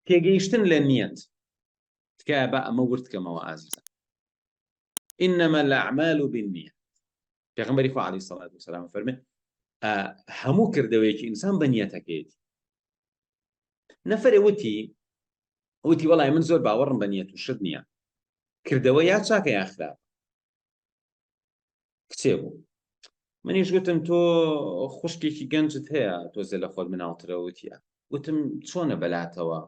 تێگەیشتن لە نیەت تکایە با ئەمە ورد کەمەوە ئازیزان انما الاعمال بالنیه پێغمبەری خو علی سڵات و سلام فەرمێ هەموو کردەوەیەکی ئینسان بە نیەتەکەیەتی نەفرە وتی وتی وڵای من زۆر باوەڕم بە نیەت و شت نییە کردەوە یا چاکە یاخراپ کچێ بوو منیش گوتم تۆ خوشکێکی گەنجت هەیە تۆزێ لە خۆت مناڵترە وتیە گوتم چۆنە بەلاتەوە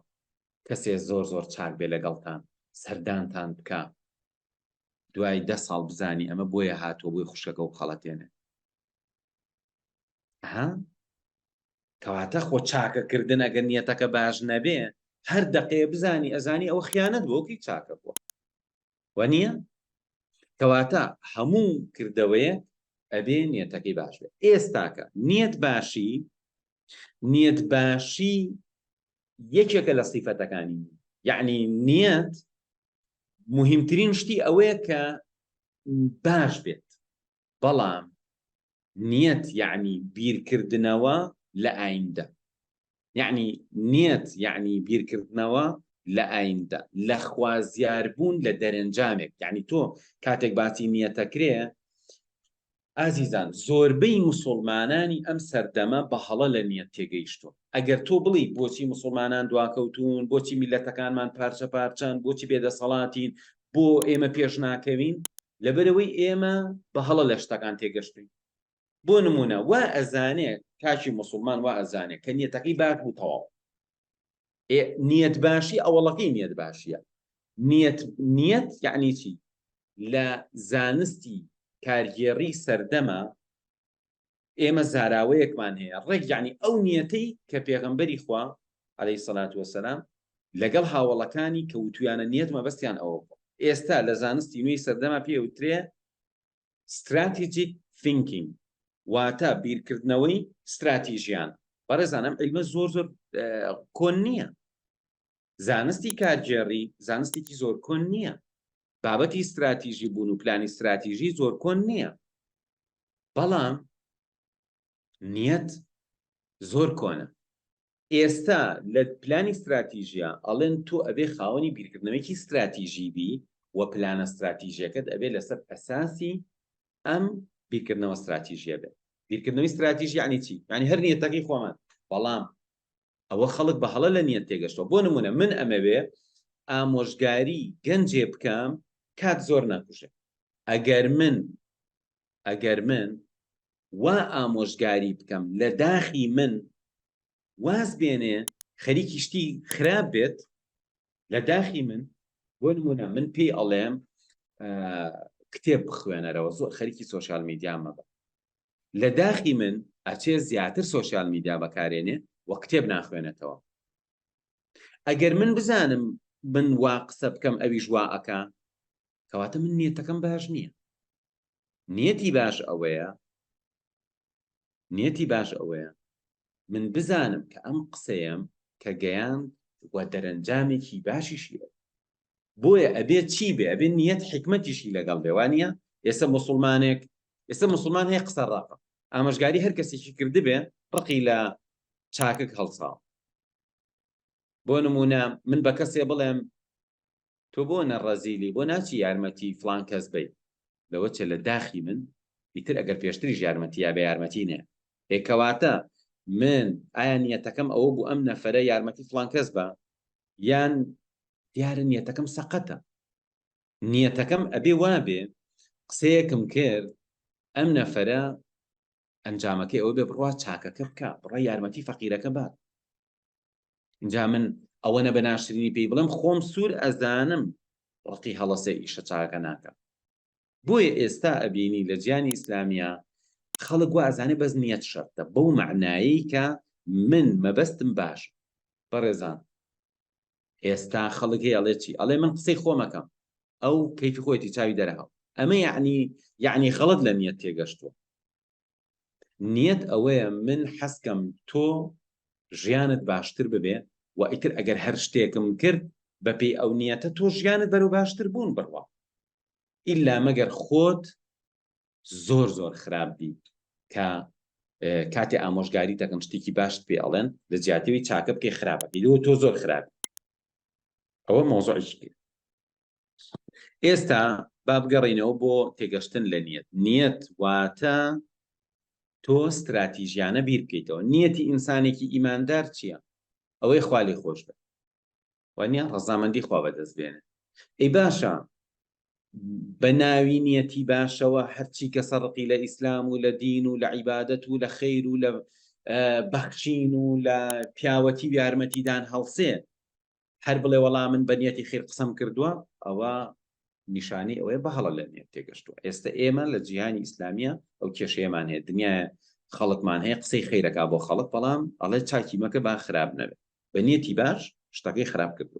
کەسێ زۆر زۆر چاک بێ لەگەڵتان سەردانتان بکە دوای دە ساڵ بزانی ئەمە بۆیە هاتووە بۆی خوشکەکە و خەڵەتێنێ ها کەواتە خۆ چاکەکردن ئەگەر نیەتەکە باش نەبێ هەر دەقەیە بزانی ئەزانی ئەو خیانەت بۆکی چاکە بووە و نییە کەواتە هەموو کردەوەیە ئەبێ نیەتەکەی باش بێت ئێستاکە نیەت باشی نیەت باشی یەکێکە لە سیفەتەکانی یعنی نیەت مهمترین شتی ئەوەیە کە باش بێت بەڵام نیەت یەعنی بیرکردنەوە لە ئایندە یەعنی نیەت یەعنی بیرکردنەوە لە ئایندە لە خوازیاربوون لە دەرەنجامێک یەعنی تۆ کاتێک باسی نیەتەکرێ ئازیزان زۆربەی مسلمانانی ئەم سەردەمە بە هەڵە لە نیەت تێگەیشتون ئەگەر تۆ بڵی بۆچی مسلمانان دواکەوتون بۆچی میلەتەکانمان پارچە پارچەن بۆچی بێدەسەڵاتین بۆ ئێمە پێش ناکەوین لەبەرئەوەی ئێمە بە هەڵە لە شتەکان تێگەشتووین بۆ نموونە وا ئەزانێ کاکی موسڵمان وا ئەزانێ کە نیەتەکەی باش بوو تەواو نیەت باشی ئەوەڵەکەی نیەت باشیە نیەت نیەت یعنی چی لە زانستی کارگێڕی سەردەمە ئێمە زاراوەیەکمان هەیە ڕێک یەعنی ئەو نیەتەی کە پێغەمبەری خوا عەلەیهی سەلات وەسەلام لەگەڵ هاوەڵەکانی کە وتویانە نیەت مەبەستیان ئەوە بووە ئێستا لە زانستی نوێی سەردەما پێ وترێ ستراتیجیک ثینکینگ واتە بیرکردنەوەی ستراتیژیان بەڕێزانم عیلمە زۆر زۆر کۆن نییە زانستی کارگێڕی زانستێکی زۆر کۆن نییە بابەتی ستراتیژی بوون و پلانی ستراتیژی زۆر کۆن نییە بەڵام نیەت زۆر کۆنە ئێستا لە پلانی ستراتیژە ئەڵێن تۆ ئەبێ خاوەنی بیرکردنەوەیکی ستراتیژی بی و پلانە ستراتیژەکەت ئەبێ لەسەر ئەساسی ئەم بیرکردنەوە ستراتیژیە بێت بیرکردنەوەی ستراتیژی عنی چی ینی هەر نیەتەکەی خۆمان بەڵام ئەوە خەڵک بە هەڵە لە نیەت تێگەشتەوە بۆ نمونە من ئەمەوێ ئامۆژگاری گەنجێ بکەم کات زۆر ناکوژێ ئەگەر من ئەگەر من وا ئامۆژگاری بکەم لە داخی من واز بێنێ خەریکی شتی خراپ بێت لە داخی من بۆ نمونە من پێی ئەڵێم کتێب بخوێنەرەوە زۆر خەریکی سوۆشال میدیامە بە لە داخی من ئەچێ زیاتر سۆشیال میدیا بەکارێنێ و کتێب ناخوێنێتەوە ئەگەر من بزانم من وا قسە بکەم ئەویش وا ئەکا کەواتە من نیەتەکەم باش نییە نیەتی باش ئەوەیە نیەتی باش ئەوەیە من بزانم کە ئەم قسەیەم کە گەیان و دەرەنجامێکی باشیشیە بۆیە ئەبێ چی بێ ئەبێ نیەت حیکمەتیشی لەگەڵ بێ وانیە ئێستا موسڵمانێک ئێستا موسڵمان هەیە قسە ڕەقە ئامەژگاری هەر کەسێکی کردبێ ڕقی لە چاکک هەڵساو بۆ نمونە من بە کەسێ بڵێم تۆ بۆ نەڕەزیلی بۆ ناچی یارمەتی فلان کەس بیت لەوە چێ لە داخی من ئیتر ئەگەر پێشتریش یارمەتی یا بە یارمەتی نێ ئێکەواتە من ئایا نیەتەکەم ئەوە بوو ئەم نەفرە یارمەتی فلان کەس بە یان دیارە نیەتەکەم سەقەتە نیەتەکەم ئەبێ وابێ قسەیەکم کرد ئەم نەفرە ئەنجامەکەی ئەوە بێ بڕوا چاکەکە بکە بڕە یارمەتی فەقیرەکە بات اینجا من ئەوەنە بە ناشرینی پێی بڵم خۆم سوور ئەزانم ڕقی هەڵەسێ ئیشە چاکە ناکە بۆیە ئێستا ئەبینی لە جیانی ئیسلامیا خەڵک وا ئەزانێ بەس نیەت شەرتە بەو مەعنایەی کە من مەبەستم باش بەڕێزان ئێستا خەڵک هەیە ئەڵێ چی ئەڵێ من قسەی خۆمەکەم ئەو کەیفی خۆیەتی چاوی دەرەهاو ئەمە یعنی یعنی خەڵت لە نیەت تێگەشتووە نیەت ئەوەیە من حەزکەم تۆ ژیانت باشتر ببێ و ئیتر ئەگەر هەر شتێکم کرد بەپێی ئەو نیەتە تۆ ژیانت بەرەو باشتر بوون بڕوا ئیلا مەگەر خۆت زۆر زۆر خراپ بی کە کاتی ئامۆژگاری دەکەم شتێکی باشت پێ ئەڵێن لە جیاتەوەی چاکە بکەی خراپەکەی لەوە تۆ زۆر خراپ ئەوە مۆزۆی کرد ئێستا بابگەڕینەوە بۆ تێگەشتن لە نیەت نیەت واتە تۆ ستراتیژیانە بیر بکەیتەوە نیەتی ئینسانێکی ئیماندار چییە ئەوەی خالی خۆش بێت وانە ڕزامەندی خوا بەدەست بێنێ ئەی باشە بە ناوی نیەتی باشەوە هەرچی کە سەرقی لە ئیسلام و لە دین و لە عیبادەت و لە خیر و لە بەخشین و لە پیاوەتی و یارمەتیدان هەڵسێ هەر بڵێ وەڵا من بە نیەتی خیر قسەم کردووە ئەوە نیشانەی ئەوەیە بە هەڵە لە نێت تێگەشتووە ئێستا ئێمە لە جیهانی ئیسلامیە ئەو کێشەیەمان هەیە دنیاە خەڵکمان هەیە قسەی خیرەکە بۆ خەڵک بەڵام ئەڵێ چاکی مەکە با خراپ نەبێت بە نیەتی باش شتەکەی خراپ کردو